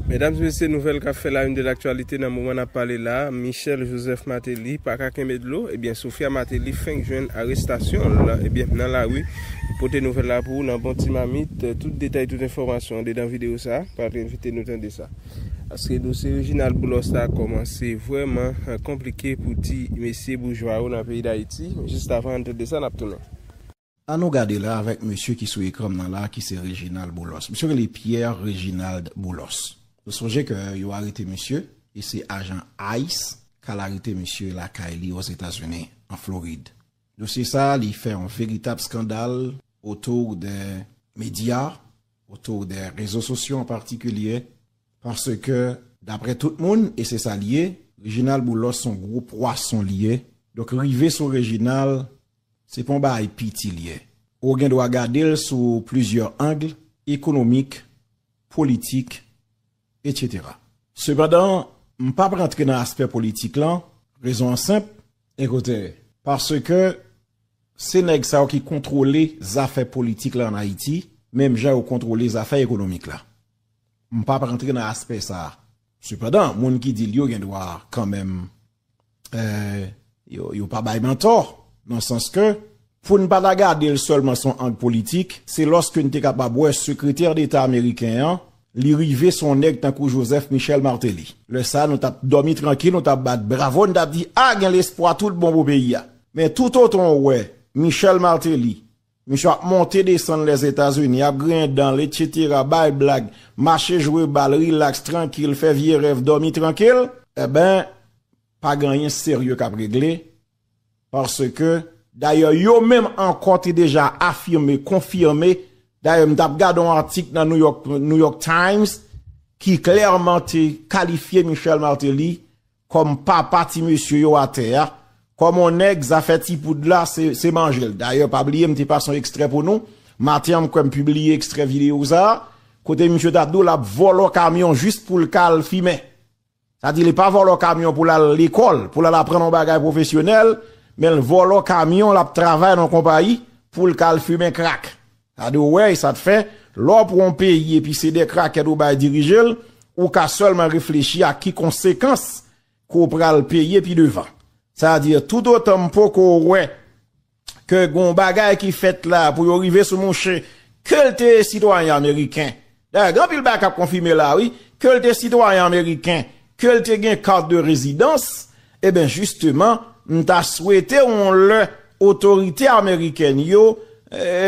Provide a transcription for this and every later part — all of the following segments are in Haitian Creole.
Medam mesye nouvèl kap fè la une de l'actualité nan moman nap pale la Michel Joseph Martelly paka kenbe dlo ebyen Sophia Martelly fenk jwenn arestasyonl ebyen nan lari m pote nouvèl la pou ou nan bon ti mamit tout detay tout enfòmasyon andedan video sa pral envite nou tande sa paske dosye Reginald Boulos la kòmanse vrèman konplike pou ti mesye boujwa yo nan peyi dayiti jis avan an tande sa nap tounen. An nou gade la avèk mesye ki sou ekran m nan la ki se Reginald Boulos. Misye rele Pierre Reginald Boulos. Nou sonje ke yo arete misye e se ajan ice k al arete misye lakay li Ozetazini, an Florid. Dosye sa a li fè yon veritab skandal otour de medya, otour de rezo sosyo an patikilye paske daprè tout moun e se sa l ye, Reginald Boulos s on gwo pwason l ye. Donk rive sou Reginald Se pa yon bagay piti li ye. Ou gen dwa gade l sou plizyè ang, ekonomik, politik, etc. Sepandan, m pap rantre nan aspè politik lan, rezon an senp, Ekoute, paske se nèg sa yo ki kontwole zafè politik la an Ayiti, menm jan yo kontwole zafè ekonomik la. M pap rantre nan aspè sa. Sepandan, moun ki di l yo gen dwa kanmenm yo pa bay nan tò, nan sans ke pou n pa ta gade l sèlman son ang politik, se lòske n te kapab wè sekretè deta ameriken an, li rive son nèg tankou Joseph Michel Martelly. Lè sa nou t ap dòmi trankil, nou t ap bat bravo, n t ap di a gen lespwa tout bon pou peyi a. Men toutotan w wè Michel Martelly Misye ap monte desann Lèzetazini, ap griyen dan l, etsetera, bay blag, mache jwe bal, rilaks, trankil, fè vye rèv, dòmi trankil. Enben, pa gen anyen serye k ap regle, paske, dayè yo menm ankò te deja afime, konfime, dayè m t ap gade yon atik nan New York Times ki klèman te kalifye Michel Martelly Kòm papa ti mesye yo atè a, kòm on nèg zafè ti poud la se manjel. Dayè pa bliye m te pase on ekstrè pou nou, maten an m kwè m pibliye ekstrè videyo sa, kote misye tap di w lap vòlò kamyon jis pou l ka al fimen. Sa di li pa vòlò kamyon pou l al lekòl, pou l al aprann on bagay pwofesyonèl, men l vòlò kamyon lap travay nan konpayi pou l ka al fimen krak. Gade w wè e sa t fè, lè w pran yon peyi epi se de krakèt ou bay dirije l, ou ka sèlman reflechi ak ki konsekans ke w pral peye pi devan. Sa vle di tout otan m poko wè ke gen yon bagay ki fèt la pou yo rive sou mouche ke l te sitwayen ameriken Dayè gen anpil bagay kap konfime la wi, ke l te sitwayen ameriken, ke l te gen kat de rezidans, eben jisteman m ta swete yon lè otorite amerikèn yo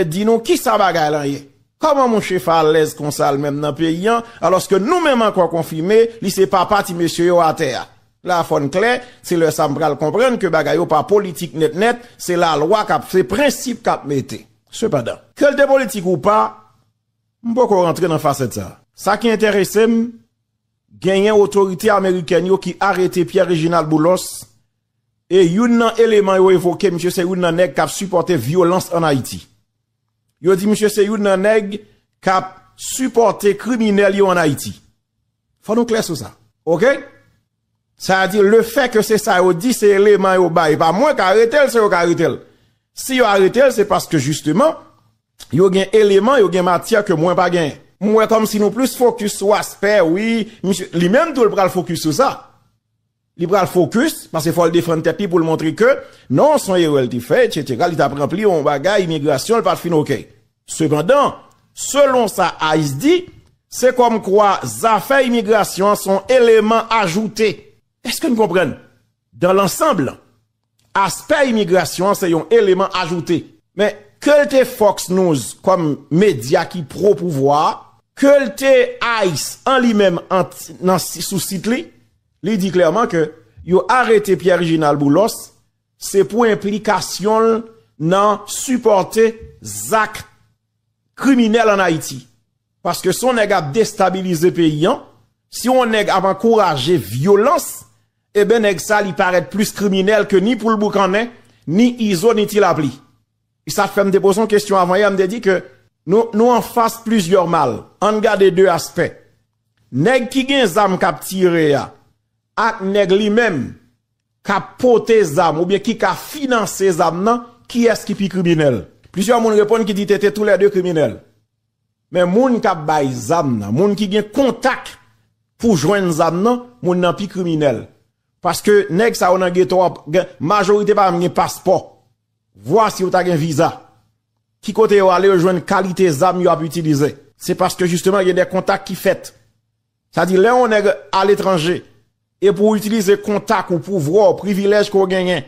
di nou kisa bagay lan ye. Kòman mouche fè alèz konsa l menm nan peyi an, alòske nou menm ankò konfime li se papa ti mesye yo atè a. La fòn klè, se lè sa m pral konprann ke bagay yo pa politik nèt nèt, se lalwa kap se prensip kap mete. Sepandan, ke l te politik ou pa, M poko rantre nan fasèt sa. Sa ki enterese m, genyen otorite amerikèn yo ki arete Pierre Reginald Boulos e youn nan eleman yo evoke misye se youn nan nèg kap sipòte vyolans an Ayiti. Yo di misye se youn nan nèg kap sipòte kriminèl yo an Ayiti. Fò nou klè sou sa. Ok? Sa a di le fè ke se sa yo di se eleman yo bay e pa mwen ka arete l se yo ka arete l. Si yo arete l se paske jisteman Yo gen eleman, yo gen matyè ke mwen pa genyen. M wè kòmsi nou plis fokis sou aspè wi misye, li menm tou l pral fokis sou sa. Li pral fokis, paske fò l defann tèt li pou l montre ke non son erè l te fè etsetera, li t ap ranpli yon bagay imigrasyon l pa t fin ok. Sepandan, selon sa ice di, se kòm kwa zafè imigrasyon an son eleman ajoute. Eske n konprann? Dan lansanb lan. Aspè imigrasyon an se yon eleman ajoute. Men, ke l te Fox News kòm medya ki pwo pouvwa a, ke l te ice an li menm nan sou sit li, li di klèman ke yo arete Pierre Reginald Boulos se pou enplikasyon l nan sipòte zak kriminèl an Ayiti. Paske si yon nèg ap destabilize peyi an, si yon nèg ap ankouraje vyolans, eben nèg sa li parèt plis kriminèl ke ni poul boukannen, ni izo, ni ti lapli. E sa fèm te poze yon kesyon avan yè, m te di ke nou anfas plizyè mal. Ann gade 2 aspè. Nèg ki gen zam kap tire a, ak nèg li menm kap pote zam oubyen ki ka finanse zam nan, kiyès ki pi kriminèl? Plizyè moun reponn ki di tete tou lè 2 kriminèl. Men moun kap bay zam nan, moun ki gen kontak pou jwenn zam nan, moun nan pi kriminèl. Paske nèg sa yo nan geto a, majorite pa menm gen paspò. Vwa si yo ta gen viza. Ki kote yo ale yo jwenn kalite zam yo ap itilize. Se paske jisteman gen de kontak ki fèt. Sa di lè yon nèg aletranje e pou w itilize kontak ou, pouvwa w, privilèj ke w genyen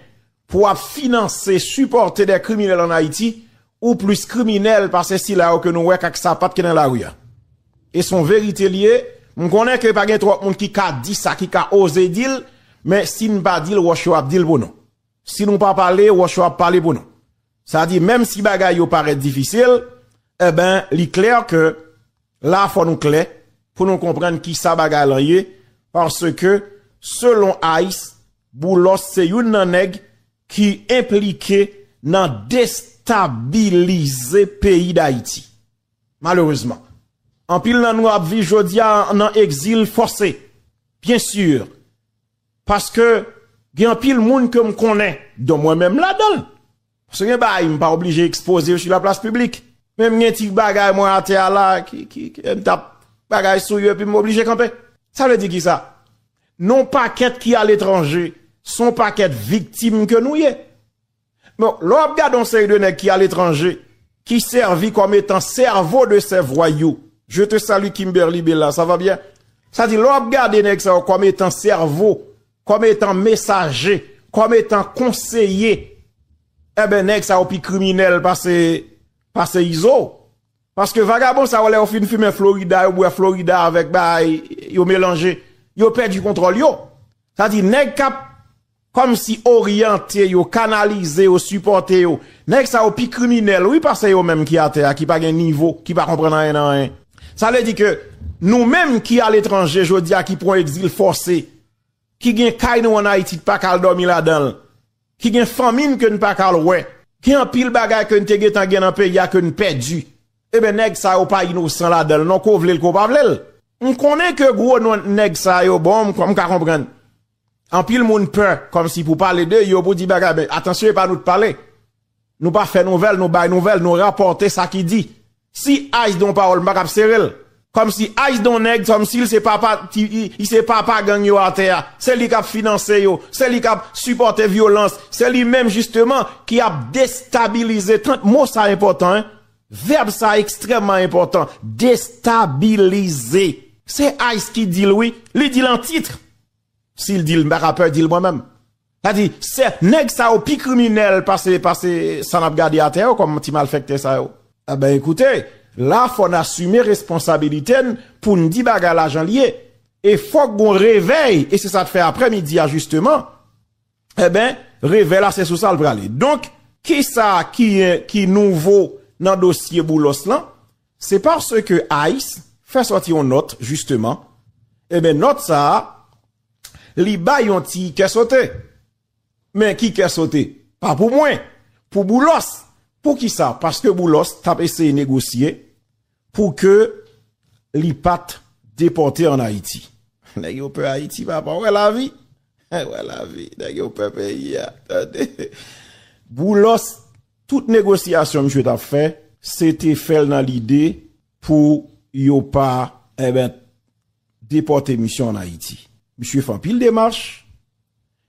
pou w ap finanse, sipòte dè kriminèl an Ayiti, ou plis kriminèl pase sila yo ke nou wè k ak sapat ki nan lari a. E s on verite li ye, m konnen ke pa gen twòp moun ki ka di sa, ki ka oze di l, men si n pa di l, wòch yo ap di l pou nou. Si nou pa pale, wòch yo ap pale pou nou. Sa di menm si bagay yo parèt difisil, enben li klè ke. La fò nou klè pou nou konprann kisa bagay lan ye paske selon Ice Boulos se youn nan nèg ki enplike nan destabilize peyi Dayiti. Malerezman. Anpil nan nou ap viv jodia nan egzil fòse. Byen sur. Paske gen anpil moun ke m konnen don mwen menm ladanl. Paske gen bagay m pa oblije ekspoze yo su la plas piblik. Men m gen ti bagay mwen atè a la ki ki ki m tap bagay sou yo epi m oblije kanpe. Sa vle di ki sa? Non pakèt ki aletranje son pakèt viktim ke nou ye. Donk lè w ap gade yon seri de nèg ki aletranje ki sèvi kòm etan sèvo de sè vwayou. Je te salu Kimberly Bella, sa va byen? Sa di lè w ap gade nèg sa yo kòm etan sèvo Kòm etan mesaje, kòm etan konseye, enben nèg sa yo pi kriminèl pase Izo. Paske vagabon sa yo lè yo fin fimen Florida, yo bwè Florida avèk bay, yo melanje, yo pèdi kontwòl yo. Sa di nèg kap kòm si oryante yo, kanalize yo, sipòte yo, nèg sa yo pi kriminèl wi pase yo menm ki atè a, ki pa gen nivo, ki pa konprann anyen nan anyen. Sa vle di ke nou menm ki a letranje jodi a ki pran egzil fòse, ki gen kay nou an Ayiti n pa ka al dòmi ladan l, ki gen fanmi n ke n pa ka al wè, gen anpil bagay ke n te gentan gen nan peyi a ke n pèdi, eben nèg sa yo pa inosan ladan l non ke w vle l ke w pa vle l. M konnen ke gwo non nèg sa yo bon, m ka konprann. Anpil moun pè kòmsi pou pale de yo, pou di bagay men atansyon e pa nou t pale. Nou pa fè nouvèl, nou bay nouvèl, nou rapòte sa ki di. Si ice don pawòl m pa tap sere l. Kòmsi ice don nèg kòmsi l se papa li se papa gang yo atè a, se li kap finanse yo, se li kap sipòte vyolans, se li menm jisteman ki ap destabilize tant mo sa enpòtan hein, vèb sa ekstrèmman enpòtan destabilize. Se ice ki di l wi, li di l an titre. Si l di l m pa ka pè di l mwen menm. Sa vle di se nèg sa yo pi kriminèl pase pase sa n ap gade atè yo kòm ti malfèktè sa yo. Enben ekoute, la fò n asime responsabilite n pou n di bagay la jan l ye. E fòk gon revèy e se sa t fè aprè midi a jisteman. Enben, revè la se sou sa l prale. Donk, kisa ki nouvo nan dosye Boulos lan? Se paske ice fè sòti yon nòt jisteman, enben nòt sa a, li bay yon ti kè sote. Men ki kè sote? Pa pou mwen, pou Boulos. Poukisa? Paske Boulos t ap eseye negosye Pou ke li pat depote an Ayiti. Nèg yo pè Ayiti papa. Ou wè lavi? Ou wè lavi? Nèg yo pè peyi a. Tande. Boulos, tout negosyasyon misye tap fè, se te fè l nan lide pou yo pa, eben, depote misye an Ayiti. Misye fè anpil demach,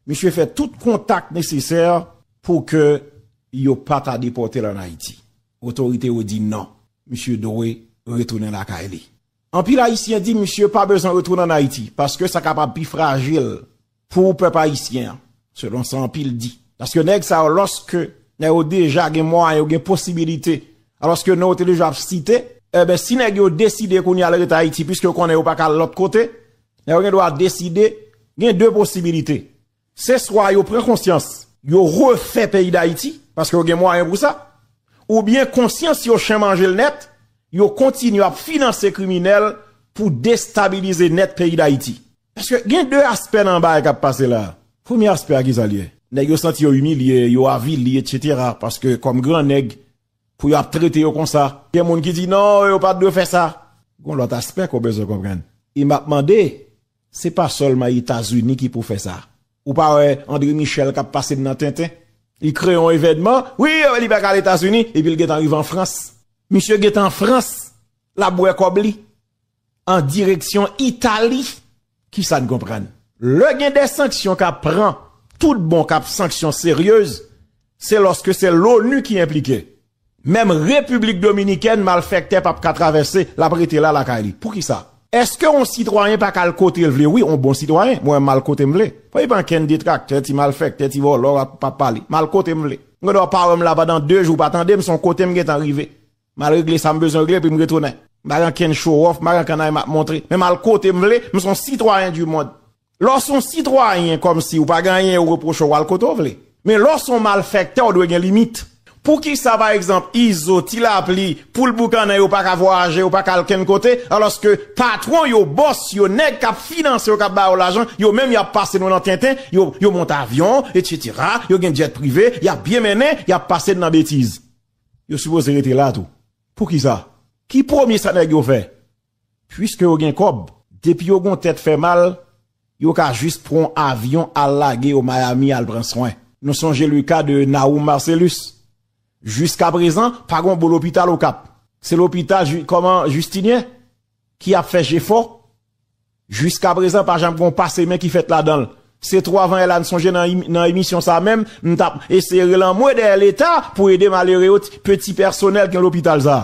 misye fè tout kontak nesesè pou ke yo pa ta depote l an Ayiti. Otorite yo di non, misye dwe retounen lakay li. Anpil Ayisyen di misye pa bezwen retounen an Ayiti paske sa kapab pi frajil pou pèp Ayisyen an, selon sa anpil di. Paske nèg sa yo lòske nèg yo deja gen mwayen, yo gen posibilite, alòske non yo te deja ap site, enben si nèg yo deside kounye a al rete Ayiti piske yo konnen yo pa ka al lòt kote, nèg yo gen dwa deside, gen 2 posibilite. Se swa yo pran konsyans, yo refè peyi Dayiti, paske yo gen mwayen pou sa, oubyen konsyans yo chen manje l nèt, yo kontinye ap finanse kriminèl pou destabilize nèt peyi Dayiti. Paske gen 2 aspè nan bagay k ap pase la a. Premye aspè a ki sa l ye? Nèg yo santi yo imilye, yo avili etsetera, paske kòm gran nèg, pou yo ap trete yo konsa. Gen moun ki di non, yo pa t dwe fè sa. Gon lòt aspè ke w bezwen konprann. E m ap mande Se pa sèlman Etazini ki pou fè sa. Ou pa wè Andre Michel k ap pase n nan tenten? Li kreye yon evènman, wi, yo wè li pa ka al Etazini, epi l gentan rive an Frans. Misye gentan an Frans, l ap bwè kòb li, an direksyon Itali. Ki sa n konprann? Lè gen de sanksyon k ap pran, toutbon k ap sanksyon seryez, se lòske se l onu ki enplike. Menm Repiblik Dominikèn malfèktè pap ka travèse, lap rete la lakay li. Poukisa? Eske yon sitwayen paka al kotel vle wi yon bon sitwayen mwen menm mal kotem vle pa gen ankenn detraktè ti malfèktè ti vòlò ak pa pale mal kotem vle m gen dwa pa wèm la pandan 2 jou pa tandem son kotem gentan rive mal regle sam bezwen regle epim retounen m pa gen ankenn show off m pa gen ankenn anyen map montre men mal kotem vle m son sitwayen du monde Lè w s on sitwayen kòmsi w pa gen anyen yo repwoche w al kote w vle. Men lè w s on malfèktè w dwe gen limit. Poukisa pa egzanp Izo, Ti Lapli, Poul Boukannen yo paka vwayaje, yo paka al kenn kote, alòske patwon yo, bòs yo, nèg k ap finanse yo, k ap ba yo lajan, yo menm y ap pase nou nan tenten, yo monte avyon, etsetera, yo gen djèt prive, y ap byen mennen, y ap pase n nan betiz. Yo sipoze rete la tou. Poukisa? Ki premye sa nèg yo fè? Puiske yo gen kòb, depi yo gon tèt fè mal, yo ka jis pran yon avyon al lage yo Miami al pran swen. Nou sonje le ka de Nahum Marcellus. Jiskaprezan, pa gon bon lopital Okap. Se lopital Ju, kòman, Justinien ki ap fè jefò. Jiskaprezan pa janm gon pase men ki fèt ladan l. Se twò avan yè la, m sonje nan, nan emisyon sa a menm, m t ap eseye rele anmwe dèyè leta pou ede malere yo, peti pèsonèl ki nan lopital sa a.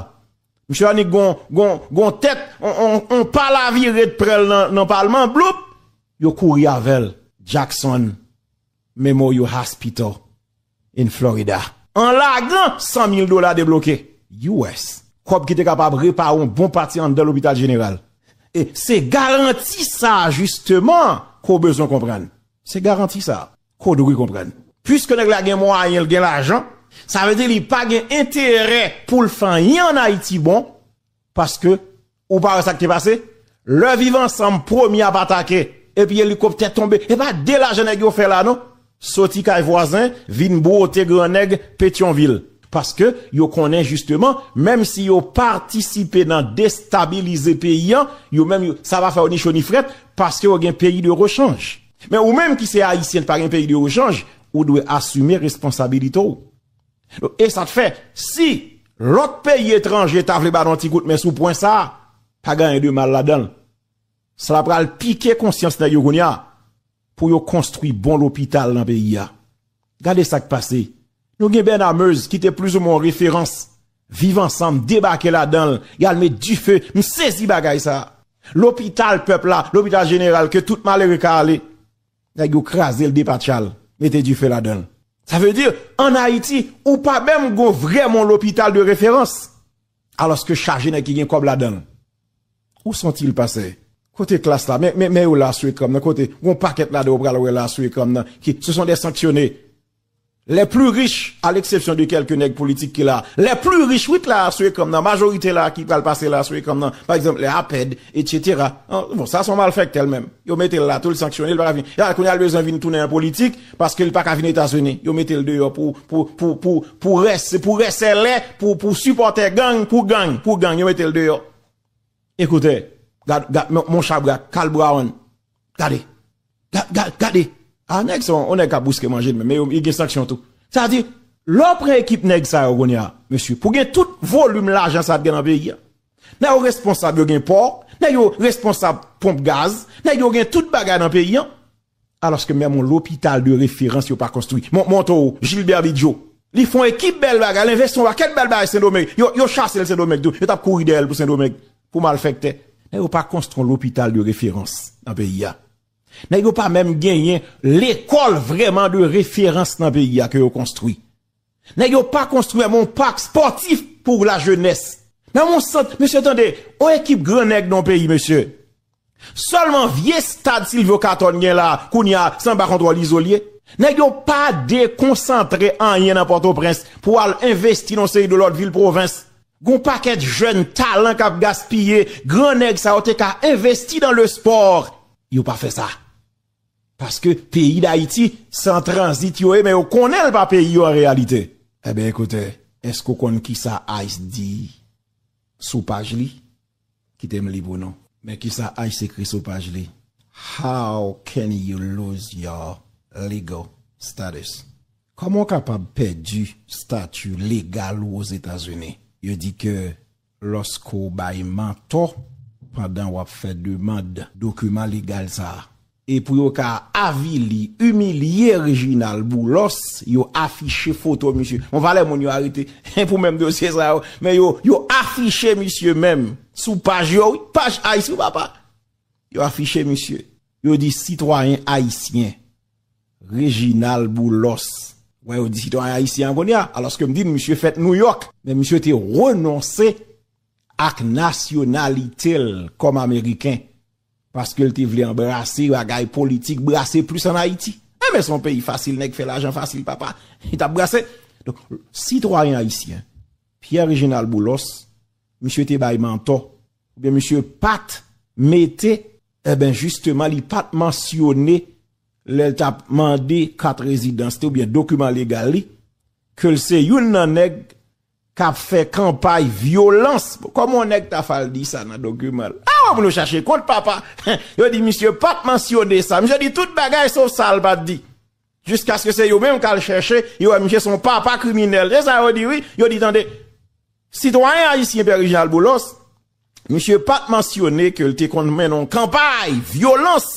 Misye annik gon gon gon tèt on pal a vire t prèl nan palman bloup yo kouri avèl Jackson Memorial Hospital in Florida. An lagan 100 mil dola debloke US. Kòb ki te kapab repare yon bon pati anndan lopital jeneral. E se garanti sa a jisteman ke w bezwen konprann. Se garanti sa a. Kodo ki konprann. Puiske nèg la gen mwayen l gen lajan, sa vle di li pa gen enterè pou l fè anyen an Ayiti bon, paske ou pa wè sa k te pase, lè Viv Ansanm premye ap atake epi elikoptè tonbe, e pa de lajan nèg yo fè la non, soti kay vwazen vin bwote gran nèg Petyonvil, paske yo konnen jisteman menm si yo patisipe nan destabilize peyi an, yo menm sa pa fè yo ni cho ni frèt, paske yo gen peyi de rechanj. Men ou menm ki se Ayisyen ki pa gen peyi de ochanj, ou dwe asime responsabilite w. Donk e sa k fè, si lòt peyi etranje ta vle ba nou yon ti kout men sou pwen sa, pa gen anyen de mal ladan l. Sa pral pike konsyans nèg yo kounye a pou yo konstwi bon lopital nan peyi a. Gade sak pase, nou gen Bernard Meuse ki te plis ou mwen yon referans, Viv ansanm debake ladanl, yal met dife, m sezi bagay sa. Lopital pèp la, lopital jeneral ke tout malere ka ale, nèg yo krazel depatchal, mete dife ladanl. Sa vle di, an Ayiti, ou pa menm gon vrèman yon lopital de referans. Alòske chaje nèg ki gen kòb ladanl. Ou santil pase. Kote klass la men men yo la sou ekranm nan kote gon pakèt ladan yo pral wè la sou ekranm nan ki se son des sanksyone les plus riches a l'exception de kèlke nèg politik ki la les plus riches wi ki la sou ekranm nan majorite la ki pral pase la sou ekranm nan pa egzanp les apèd etc bon sa son malfèktè li menm yo metel la tou li sanksyone li paka vin ya kounye a li bezwen vin tounen nan politik Paske li paka vin etazini yo metel deyò pou pou pou pou pou rès pou rèsèlè pou pou sipòtè gang pou gang pou gang yo metel deyò ekoutè gad gad mon chabrak kal braon gade gad gad gade a nèg sa on nèg kap bouske manjel menm men li gen sanksyon tou sa di lò pran ekip nèg sa yo kounya mesye pou gen tout volim lajan sa ap gen nan peyi a nèg yo responsab yo gen pò nèg yo responsab ponp gaz nèg yo gen tout bagay nan peyi an Alòske menm yon lopital de referans yo pa konstwi. Mwen montre w Gilbert Bidjo. Li fè yon ekip bèl bagay, li envesti yon pakèt bèl bagay Sendomeng. Yo chase l Sendomeng tou. Yo t ap kouri dèyè l pou Sendomeng, pou malfèktè. Men yo pa konstwi yon lopital de referans nan peyi a. Nèg yo pa menm genyen lekòl vrèman de referans nan peyi a ke yo konstwi. Nèg yo pa konstwi menm yon pak spòtif pou la jenès. Menm yon sant, mesye tande, yon ekip gran nèg nan yon peyi mesye. Sèlman vye stad Silvyo Katòn gen la kounye a se anba kontwòl Izo li ye. Nèg yo pa dekonsantre anyen nan Pòtoprens pou al envesti nan yon seri de lòt vil pwovens. Gen yon pakèt jèn talan k ap gaspiye, gran nèg sa yo te ka envesti dan le sport, yo pa fè sa. Paske peyi dayiti se an tranzit yo ye men yo konnen l pa peyi yo an reyalite. Enben ekoute, èske ou konn kisa ice di sou paj li? Kite m li pou nou. Men kisa ice ekri sou paj li, How can you lose your legal status? Kòman ou kapab pèdi stati legal ou Ozetazini? Yo di ke Lòske w bay mantò pandan w ap fè demand dokiman legal sa a. E pou yo ka avili, imilye Reginald Boulos, yo afiche foto misye. Bon valè moun yo arete pou menm dosye sa yo, men yo, yo afiche misye menm sou paj yo wi, paj Ayisyen papa. Yo afiche misye. Yo di sitwayen ayisyen. Reginald Boulos wè yo di sitwayen ayisyen an kounye a, alòske m di nou misye fèt Nouyòk, men misye te renonse ak nasyonalite l kòm ameriken paske l te vle anbrase bagay politik, brase plis an Ayiti. Enben se yon peyi fasil, nèg fè lajan fasil papa, li t ap brase. Donk, sitwayen ayisyen Pierre Reginald Boulos, misye te bay mantò, oubyen misye pa t mete. Enben jisteman li pat mansyone lè l tap mande kat rezidans li oubyen dokiman legal li ke l se youn nan nèg kap fè kanpay vyolans kòman yon nèg ta fal di sa nan dokiman l a wè pou nou chache kont papa yo di misye pat mansyone sa misye di tout bagay sof sa l pat di Jiskaske se yo menm k al chèche, yo wè misye se yon papa kriminèl. Se sa yo di wi, yo di tande, sitwayen ayisyen Pierre Réginald Boulos, misye pa t mansyone ke l te konn mennen yon kanpay vyolans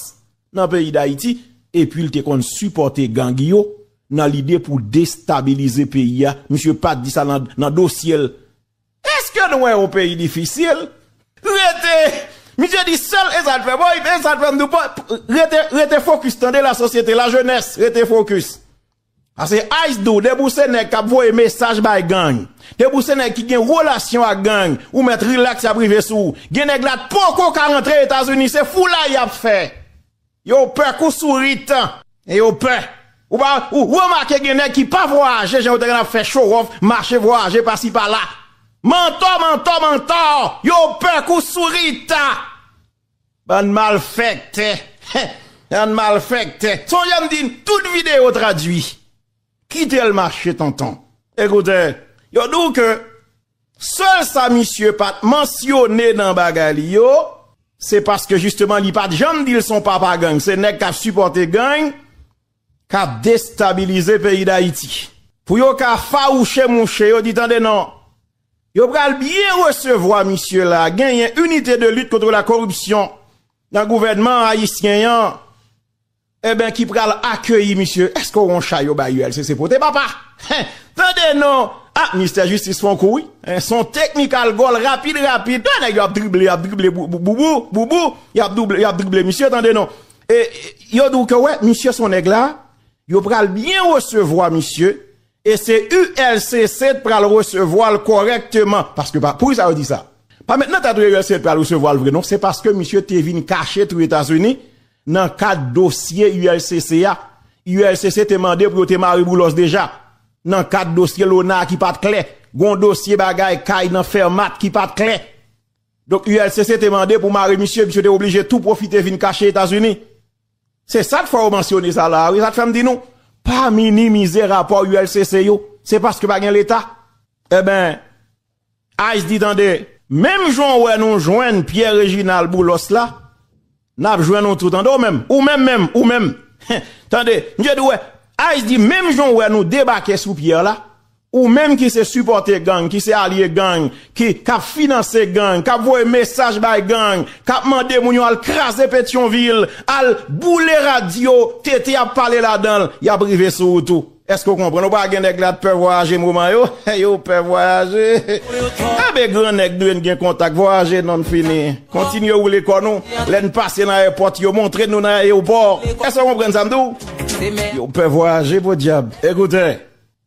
nan peyi Dayiti epi l te konn sipòte gang yo nan lide pou destabilize peyi a, misye pa t di sa nan dosye l. Eske nou wè yon peyi difisil? Rete! Misye di sèl e sa l fè bon li fè e sa l fè m di w pa rete rete fokis tande la sosyete la jenès rete fokis pase ice dou depi w se nèg k ap voye mesaj bay gang depi w se nèg ki gen relasyon ak gang ou mèt rilaks y ap rive sou w gen nèg la t poko ka rantre etazini se foulay y ap fè. Yo pè kou sourit e yo pè. Ou pa remake gen nèg ki pa vwayaje jan yo te konn ap fè chowòf, mache vwayaje pasi pala. Mantò, mantò, mantò. Yo pè kou sourit. Bann malfèktè. Bann malfèktè. Sonje m di n, tout videyo tradui. Kitel mache tonton. Ekoute, yo di w ke sèl sa misye pat mansyone nan bagay li yo, se paske jisteman li pat janm di l son papa gang, se nèg kap sipòte gang, kap destabilize peyi Dayiti. Pou yo ka fawouche mouche, yo di tande non, yo pral byen resevwa misye la, genyen Unité de lutte contre la corruption nan gouvènman ayisyen an, Eben ki pral akeyi misye eske w on chay yo bay ULCC pote papa hein tande non ah ministè jistis fon kou wi hein son teknikal gòl rapid rapid ah nèg yo ap drible yap drible boubou boubou yap double yap drible misye tande non e yo di w ke wè misye son nèg la yo pral byen resevwa misye E se ULCC t pral resevwa l kòrèkteman. Paske pa, pou ki sa yo di sa? Pa mèt nan tèt yo ULCC t pral resevwa l vre non, se paske misye te vin kache tou Etazini nan kad dosye ULCC a. ULCC te mande pou yo te mare boulos deja. Nan kad dosye Lona a ki pa t klè. Gen yon dosye bagay kay nan Fermat ki pa t klè. Donk ULCC te mande pou mare misye, misye te oblije tou pwofite vin kache Etazini. Se sak fè ou mansyone sa la a wi, sak fè m di nou pa minimize rapò ULCC yo, se paske pa gen leta. Enben, Ice di tande, menm jan ou wè nou jwenn Pierre Reginald Boulos la, n ap jwenn ou tou tande ou menm, ou menm menm, ou menm, tande, misye di wè, Ice di menm jan ou wè nou debake sou Pierre la, Ou menm ki se sipòte gang, ki se alye gang, ki, k ap finanse gang, k ap voye mesaj bay gang, k ap mande moun yo al kraze Petyonvil, al boule radyo TT ap pale ladan l, y ap rive sou ou tou. Èske ou konprann? Ou pa gen nèg la t pè vwayaje moman yo? Yo pè vwayaje? Enben gran nèg nou yo n gen kontak, vwayaje non n fini. Kontinye woule kò nou, lè n pase nan èpòt yo, montre nou nan ayewopò. Èske ou konprann sa m di w? Yo pè vwayaje podyab. Ekoute!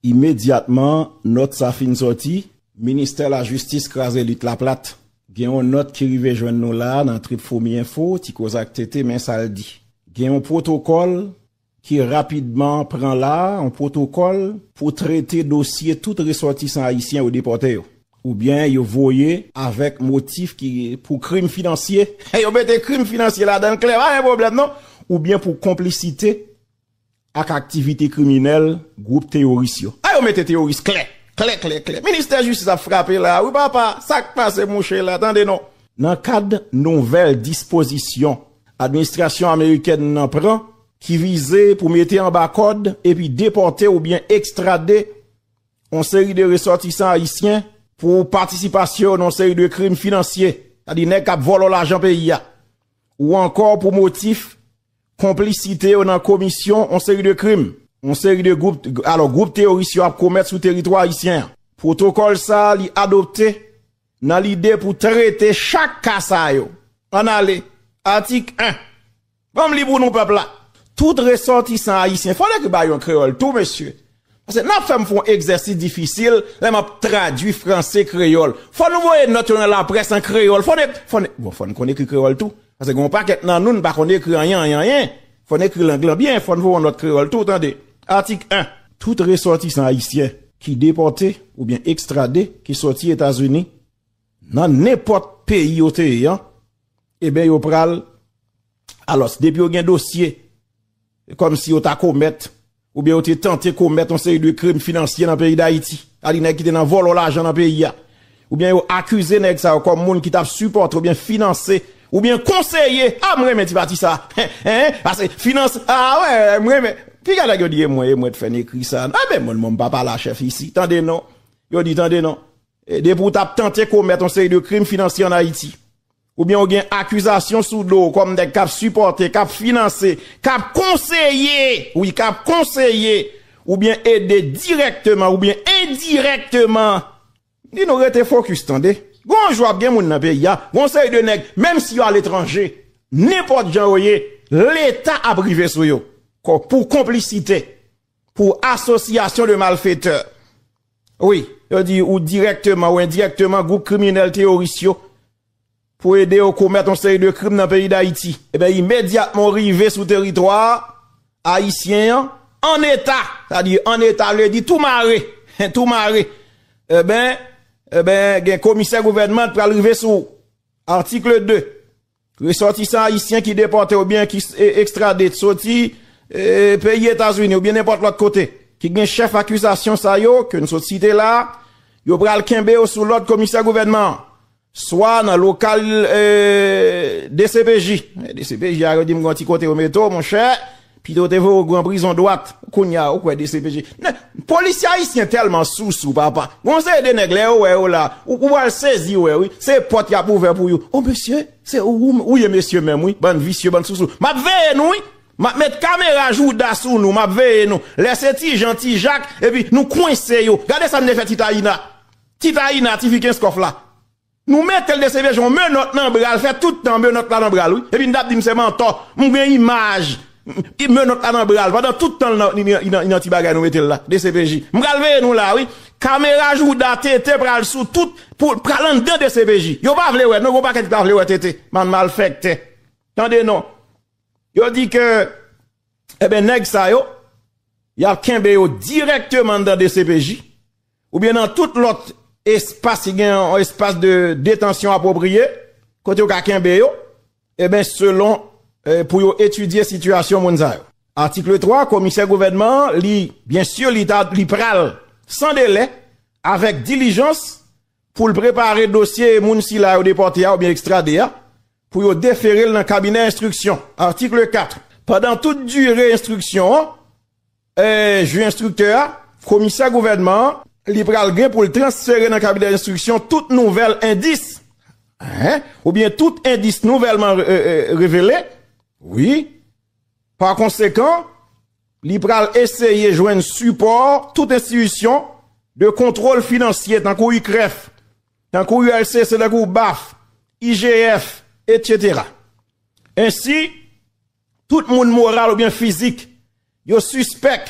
Imedyatman nòt sa fin sòti, Ministè Lajistis kraze lit la plat. Gen yon nòt ki rive jwenn nou la a nan trip Fomi Enfo, Ti Koze ak TT, men sa l di, Gen yon pwotokòl ki rapidman pran la a, yon pwotokòl, pou trete dosye tout resòtisan ayisyen yo depòte yo oubyen yo voye avèk motif ki pou krim finansye, yo mete krim finansye ladan l klè, pa gen pwoblèm non, oubyen pou konplisite ak aktivite kriminèl gwoup teyoris yo. A yo mete teyoris klè, klè, klè, klè. Ministè Jistis ap frape la a wi papa, sa k pase mouche la, tande non. Nan kad nouvèl dispozisyon administrasyon amerikèn nan pran ki vize pou mete anba kòd epi depòte oubyen ekstrade yon seri de resòtisan ayisyen pou patisipasyon yo nan yon seri de krim finansye, sa di nèg k ap vòlò lajan peyi a, ou ankò pou motif Konplisite yo nan komisyon yon seri de krim, yon seri de gwoup, alò gwoup teyoris yo ap komèt sou teritwa ayisyen an. Pwotokòl sa a li adopte nan lide pou trete chak ka sa yo. Ann ale, Atik 1. Ban m li pou nou pèp la. Tout resòtisan ayisyen, fò l ekri ba yo an kreyòl tou mesye, Pase nan fèm fon egzèsis difisil lè map tradwi franse kreyòl. Fò nou voye nòt yo nan laprès an kreyòl. Fò ne, fò ne, bon fò n konn ekri kreyòl tou. Pase gen yon pakèt nan nou n pa konn ekri anyen anyen anyen. Fò n ekri lang lan byen. Fò n voye yon nòt kreyòl tou tande. Atik 1. Tout resòtisan ayisyen ki depòte oubyen ekstrade ki sòti Etazini nan nenpòt peyi yo te ye an, eben yo pral, alòs depi yo gen dosye Kòm si yo ta komèt, oubyen yo te tante komèt yon seri de krim finansye nan peyi Dayiti. Sa di nèg ki te nan vòlò lajan nan peyi a. Oubyen yo akize nèg sa yo kòm moun ki tap sipòte oubyen finanse oubyen konseye, ah m renmen ti pati sa hein, pase finans, ah wè m renmen, piga nèg yo di e mwen e mwen t fè n ekri sa, ah men mwen m pa pale a chèf isi, tande non, yo di tande non, depi w tap tante komèt yon seri de krim finansye an Ayiti. Oubyen ou gen akizasyon sou do w kòm nèg k ap sipòte, k ap finanse, k ap konseye, wi k ap konseye oubyen ede dirèkteman oubyen endirèkteman, m di nou rete fokis tande, gen yon jou ap gen moun nan peyi a, gen yon seri de nèg menm si yo aletranje, nenpòt jan yo ye, leta ap rive sou yo pou konplisite. Pou association de malfaiteurs. Wi, yo di ou direkteman ou endirekteman gwoup kriminèl teyoris yo pou ede yo komèt yon seri de krim nan peyi Dayiti. Eben imedyatman ou rive sou teritwa ayisyen an, an eta, sa di an eta vle di tou mare, tou mare. Eben, eben gen komisè gouvènman pral rive sou ou. Article 2. Resòtisan ayisyen ki depòte oubyen ki ekstrade soti peyi Etazini oubyen nenpòt lòt kote ki gen chèf akizasyon sa yo ke n sot site la a, yo pral kenbe yo sou lòd komisè gouvènman an swa nan lokal dcpj. Dcpj a yo di m gen yon ti kote yo mete w monchè, Pito yo te voye w gran prizon dwat kounya ou kwè dcpj nèg polisye ayisyen tèlman sousou papa gen yon seri de nèg lè yo wè yo la ou pral sezi wè wi se pòt yap ouvè pou yo o mesye se ou ou ye mesye menm wi bann visye bann sousou map veye nou wi map met kamera jouda sou nou map veye nou lè se ti jan ti jak epi nou kwense yo gade sa nou te fè ti tayina ti tayina ti fi kenskof la. Nou metel de CVJ yon menòt nan bral fè tout tan menòt la nan bral wi epi nou tap dim se mantò m gen imaj menòt la nan bral pandan tout tan li nan ti bagay nou metel la dcpj m pral veye nou la wi kamera jouda tete pral sou tout pral andan dcpj yo pa vle wè non gon pakèt ki pa vle wè tete bann malfèktè tande non yo di ke eben nèg sa yo yap kenbe yo dirèkteman andan dcpj. oubyen nan tout lòt espas ki gen yon espas de detansyon apwopriye, kote yo ka kenbe yo, eben selon pou yo etidye sitiyasyon moun sa yo. Atikle 3, Komisè Gouvènman an, li, byen si li ta, li pral, san delè, avèk dilijans, pou l prepare dosye moun sila yo depòte a oubyen ekstrade a, pou yo defere l nan kabinè enstriksyon. Atikle 4, Pandan tout dire enstriksyon an, Ju enstriktè a, komisè gouvènman an, li pral gen pou l transfere nan kabinè enstriksyon tout nouvèl endis, hein, oubyen tout endis nouvèlman revele, wi, pakonsekan, li pral eseye jwenn sipò tout enstitisyon de kontwòl finansye tankou UCREF, tankou ULCC, tankou baf, IGF, etsetera. Ensi. Tout moun moral oubyen fizik yo sispèk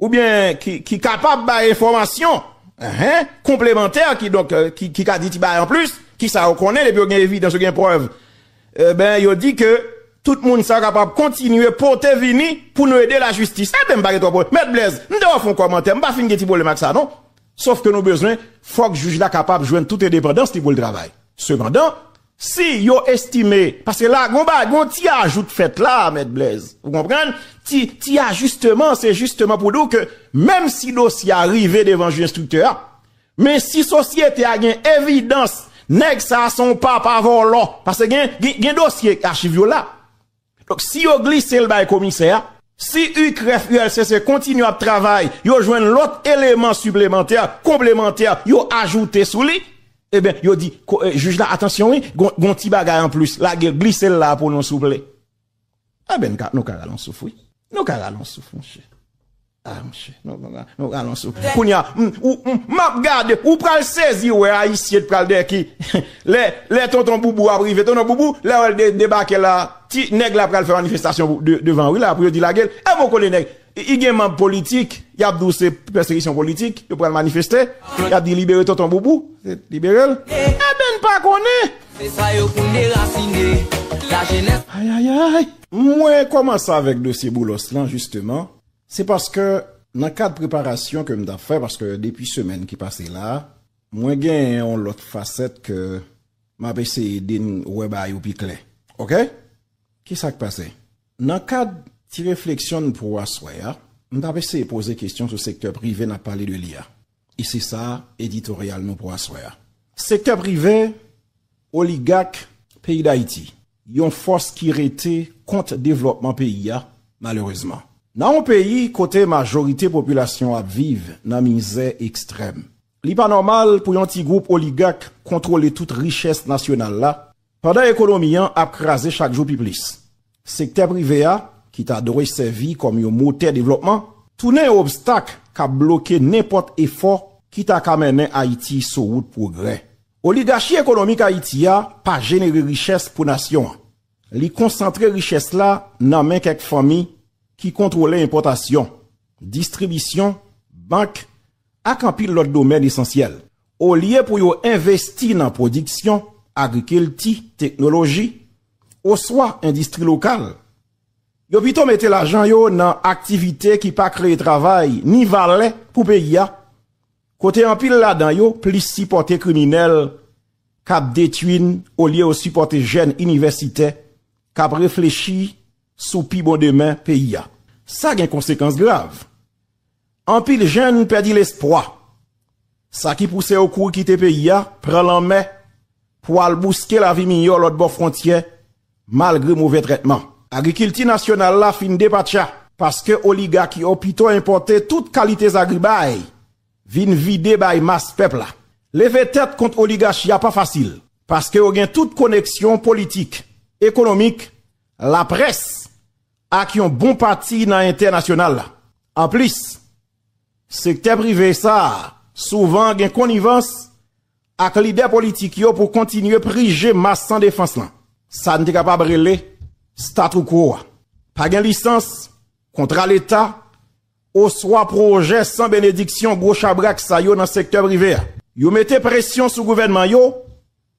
oubyen ki kapab bay enfòmasyon konplemantè kidonk ki ka di ti bagay anplis ki sa yo konnen depi yo gen evidans yo gen prèv enben yo di ke tout moun sa yo kapab kontinye pote vini pou nou ede lajistis enben m pa gen twòp pwoblèm mèt Blèz m ta wè w fè yon kòmantè m pa fin gen ti pwoblèm ak sa non sof ke nou bezwen fòk jij la kapab jwenn tout endepandans li pou l travay sepandan Si yo estime, paske la gon ba gon ti ajou t fèt la Mèt Blèz, ou konprann, ti ti ajisteman, se jisteman pou di w ke menm si dosye a rive devan jij enstriktè a, men si sosyete a gen evidans nèg sa a se yon papa vòlò, paske gen gen dosye achiv yo la. Donk si yo glise l bay komisè a, si UCREF, ULCC kontinye ap travay, yo jwenn lòt eleman siplemantè, konplemantè, yo ajoute sou li, eben yo di jij la atansyon wi, gon ti bagay anplis, lage l, glise l la pou nou souple. Eben nou ka rale yon souf wi, nou ka rale yon souf monchè. Ah monchè nou ralon sou kounya m ou m map gade ou pral sezi wè ayisyen t pral dèyè ki lè lè tonton boubou ap rive tonton boubou lè wèl de debake la ti nèg la pral fè manifestasyon pou de devan wi la pou yo di lagel e mou konnen nèg i gen manb politik yap di w se pèsekisyon politik yo pral manifeste yap di libere tonton boubou se liberel eben n pa konnen Se sa yo pou n derasine lajenès. Ayayayy! Mwen kòmanse avèk dosye Boulos lan jisteman. Se paske nan kad preparasyon ke m tap fè, paske depi semèn ki pase la, mwen genyen yon lòt fasèt ke m ap eseye de n wè bagay yo pi klè. Ok? Ki sa k pase? Nan kad ti refleksyon n pou aswè a, m tap eseye poze kesyon sou sektè prive n ap pale de li a. E se sa editoryal nou pou aswè a. Sektè prive, oligak, peyi Dayiti, yon fòs ki rete kont devlòpman peyi a, malerezman. Nan yon peyi kote majorite popilasyon ap viv nan mizè ekstrèm, li pa nòmal pou yon ti gwoup oligak kontwole tout richès nasyonal la Pandan ekonomi an ap kraze chak jou pi plis, sektè prive a, ki ta dwe sèvi kòm yon motè devlòpman, tounen yon obstak k ap bloke nenpòt efò ki ta ka mennen Ayiti sou wout pwogrè. Oligachi ekonomik Ayiti a pa jenere richès pou nasyon an. Li konsantre richès la nan men kèk fanmi ki kontwole enpòtasyon, distribisyon, bank, ak anpil lòt domèn esansyèl, olye pou yo envesti nan pwodiksyon, agrikilti, teknoloji, oswa endistri lokal, yo pito mete lajan yo nan aktivite ki pa kreye travay ni valè pou peyi a, kote anpil ladan yo plis sipòte kriminèl k ap detui n olye yo sipòte jèn inivèsitè k ap reflechi sou pi bon demen peyi a. Sa gen konsekans grav. Anpil jèn pèdi lespwa. Sa ki pouse yo kouri kite peyi a, pran lanmè pou al bouske lavi miyò lòt bò fwontyè malgre move trètman. Agrikilti nasyonal la fin depatcha. Paske oligak yo pito enpòte tout kalite zagribay vin vide bay mas pèp la. Leve tèt kont oligachi a pa fasil. Paske yo gen tout koneksyon politik, ekonomik, laprès. ak yon bon pati nan entènasyonal la. Anplis, sektè prive sa a souvan gen konivans ak lidè politik yo pou kontinye prije mas san defans lan, sa n te kapab rele statu quo a. Pa gen lisans, kontra leta, oswa pwojè san benediksyon gwo chabrak sa yo nan sektè prive a. Yo mete presyon sou gouvènman yo.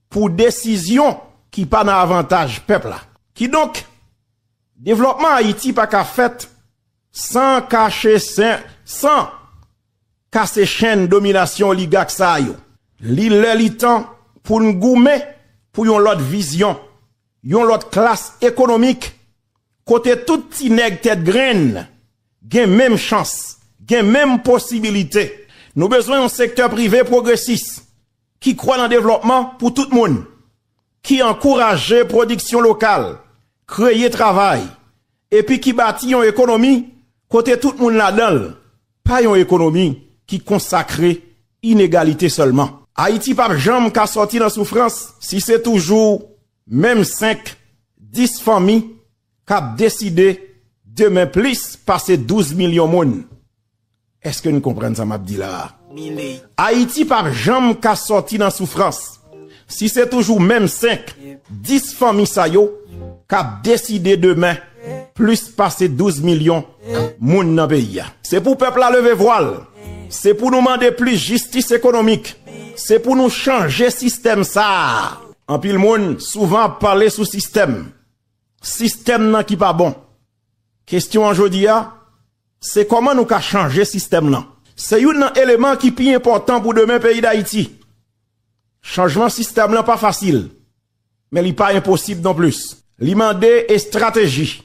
pou desizyon ki pa nan avantaj pèp la. Kidonk, devlòpman Ayiti pa ka fèt san kache sen, san kase chenn dominasyon oligak sa a yo. Li lè li tan pou n goumen pou yon lòt vizyon, yon lòt klas ekonomik kote tout ti nèg tèt grenn gen menm chans, gen menm posibilite. Nou bezwen yon sektè prive pwogresis, ki kwè nan devlòpman pou tout moun, ki ankouraje pwodiksyon lokal, kreye travay, epi ki bati yon ekonomi kote tout moun ladan l, pa yon ekonomi ki konsakre inegalite sèlman. Ayiti pap janm ka sòti nan soufrans si se toujou Menm 5, 10 fanmi k ap deside demen plis pase 12 milyon moun. Eske n konprann sa m ap di la a? Ayiti pa p janm ka sòti nan soufrans si se toujou menm 5, 10 fanmi sa yo k ap deside demen plis pase 12 milyon moun nan peyi a. Se pou pèp la leve vwa l, se pou nou mande plis jistis ekonomik, se pou nou chanje sistèm sa a. Anpil moun souvan ap pale sou sistèm, sistèm nan ki pa bon. Kestyon an jodi a, se kòman nou ka chanje sistèm nan. Se youn nan eleman ki pi enpòtan pou demen peyi Dayiti. Chanjman sistèm lan pa fasil, men li pa enposib non plis. Li mande estrateji.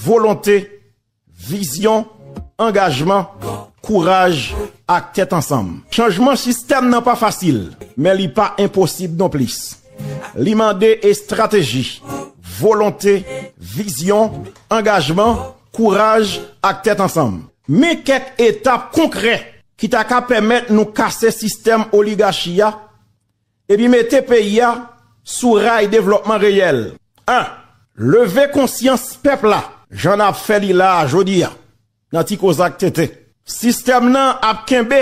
Volonte, vizyon, angajman, kouraj ak tèt ansanm. Chanjman sistèm nan pa fasil, men li pa enposib non plis. Li mande estrateji, volonte, vizyon, angajman, kouraj ak tèt ansanm. Men kèk etap konkrè ki ta ka pèmèt nou kase sistèm oligachi a epi mete peyi a sou ray devlòpman reyèl a, leve konsyans pèp la jan n ap fè li la a jodi a nan Ti Kozak Tenten. Sistèm nan ap kenbe.